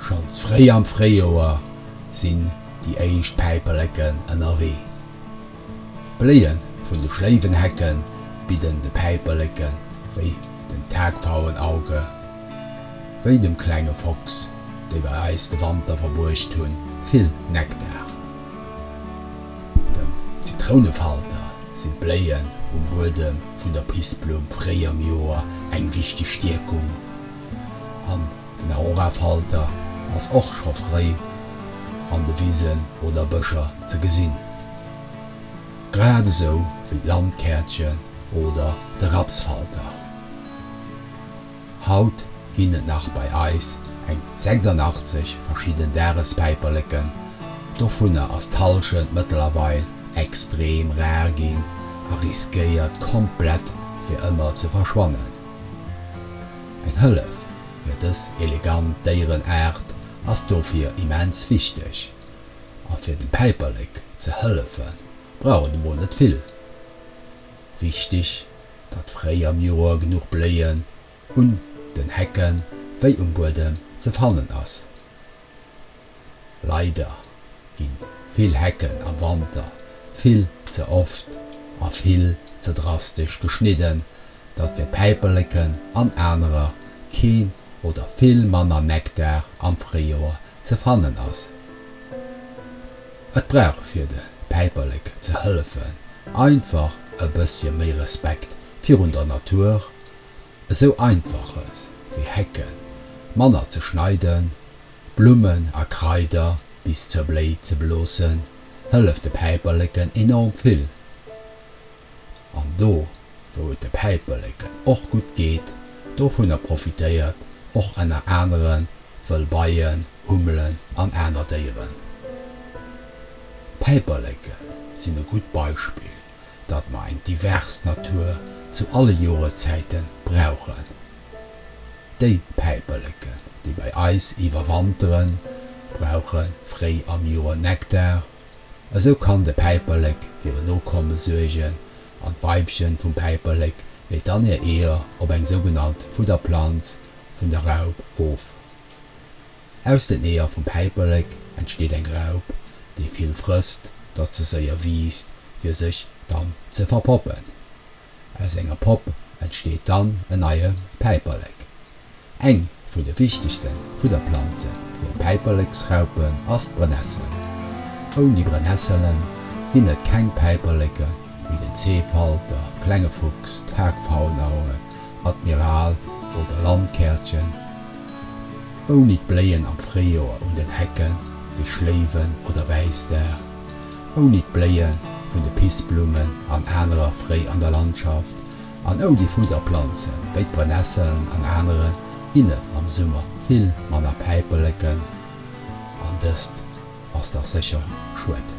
Schonns fréi am Fréijoer sinn déi éischt Päiperleken ënnerwee. D'Bléie vun de Schléiwenhecke bidden de Päiperleke wéi den Tagpfauen Auge, wéi dem klenge Fochs, déi bei eis de Wanter verbruecht hunn, vill Nektar. Dem Zitrounefalter sinn d'Bléien um Buedem vun der Pissblumm fréi am Joer eng wichteg Stierkung. An den Aurafalter ass och scho fréi an de Wisen oder Bëscher ze gesinn, grad esou wéi d'Landkärtchen oder de Rapsfalter. Haut ginn et nach bei eis eng 86 verschidden Dagespäiperleken, dovunner ass d'Hallschent mëttlerweil extrem rar ginn a riskéiert komplett fir ëmmer ze verschwannen. Eng Hëllef fir dës elegant Déierenaart ass dofir immens wichteg. A fir dem Päiperlek ze hëllefe brauch et emol net vill. Wichteg, datt fréi am Joer genuch Bléien un den Hecken wéi um Buedem ze fannen ass. Leider gi vill Hecken am Wanter vill ze oft a vill ze drastesch geschnidden, datt fir Päiperleken an anerer keen oder vill manner Nektar am Fréijoer ze fannen ass. Et brauch fir de Päiperlek ze hëllefen einfach e bëssche méi Respekt virun der Natur, esou einfaches wéi Hecken manner ze schneiden, Blummen a Kraider bis zur Bléi ze beloossen, hëlleft de Päiperleken enorm vill. An do, wou et de Päiperleken och gutt geet, dovunner profitéiert och enner aneren wëll Beien, Hummelen an aner Déieren. D'Päiperleken sinn e gutt Beispill. datt mer eng divers Natur zu alle Joreszäite brauchen. Déi Päiperleken, déi bei eis iwwerwanteren, brauche fréi am Joer Nektar. Esou kann de Päiperlek fir en Nokomme suergen an d'Weibchen vum Päiperlek leet dann hir Eeër op eng sougenannt Fudderplanz vun der Raup of. Aus den Eeër vum Päiperlek entsteet eng Raup, déi vill frësst, datt se séier wiisst, fir sech dann ze verpoppen. Aus enger Popp entsteet dann en neie Päiperlek. Eng vun de wichtegste Fudderplanze fir Päiperleksraupen ass d'Brennessel. Ouni Brennesselen ginn et keng Päiperleke wéi den Zeefalter, klenge Fuchs, d'Hagfaulnaue Admiral oder Landkärtchen, ouni d'Bléien am Fréijoer un den Hecken wéi Schléiwen oder Wäisdag, ouni d'Bléien vun de Pissblummen an anerer Fréi an der Landschaft an ouni Fudderplanzen wéi d'Brennesseln an aneren, ginn et am Summer vill manner Päiperleken an dëst ass dach sécher schued.